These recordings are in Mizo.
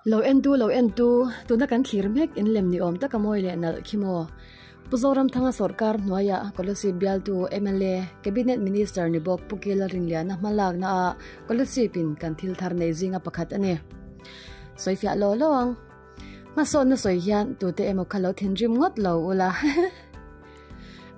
Lo en tu, lo en tu, tuna kan thlir mek in lem ni awm taka mawi leh nalh khi maw? Pu Zoramthanga sawrkar hnuaia Kawlesi bialtu, mla, Cabinet Minister ni bawk Pu Kela Rinliana hma lakna ah Kawlesipin kan thil thar nei zinga pakhat a ni. Sawifiah law law ang. Hmasaw na sawi hian tute emaw kha lo thinrim ngawt lo ula.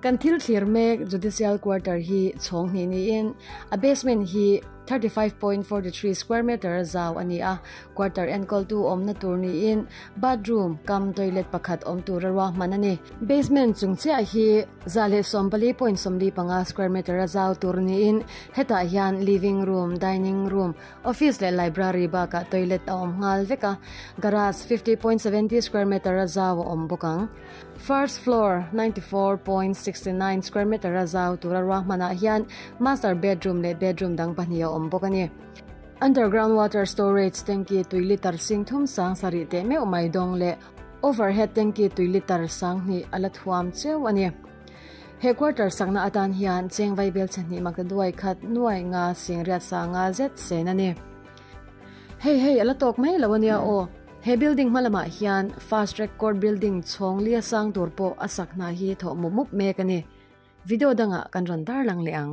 kan thil thlir mek judicial quarter hi chhawng hnih niin a basement hi 35.43 square meter a zau a ni a quarter enkawl tu awmna tur niin bathroom kam toilet pakhat awm tur a ruah hman a ni basement chung chiah hi za leh sawm pali point sawmli panga square meter a zau tur niin hetah hian living room dining room Office leh library bakah toilet a awm nghal vek a, garage fifty point seventy square metre a zau a awm bawk ang. First floor ninety four point sixty nine square metre a zau tura ruah hmanah hian master bedroom leh bedroom dang pahnih a awm bawk a ni. Underground water storage tanki tui litre sing thum sang sa rih teh meuh mai dawng leh overhead tanki tui litre sang hnih a la thuam cheu a ni. He quarter sakna atan hian chengvai belchhe hnih mak te duai khat nuai nga sing riat sanga zet sen a ni. Hei hei, a la tawk mai lo a nia aw. He building hma lamah hian fast track court building chhawng li a sang tur pawh a sak hna hi thawh mup mup mek a ni. Video dangah kan rawn tarlang leh ang.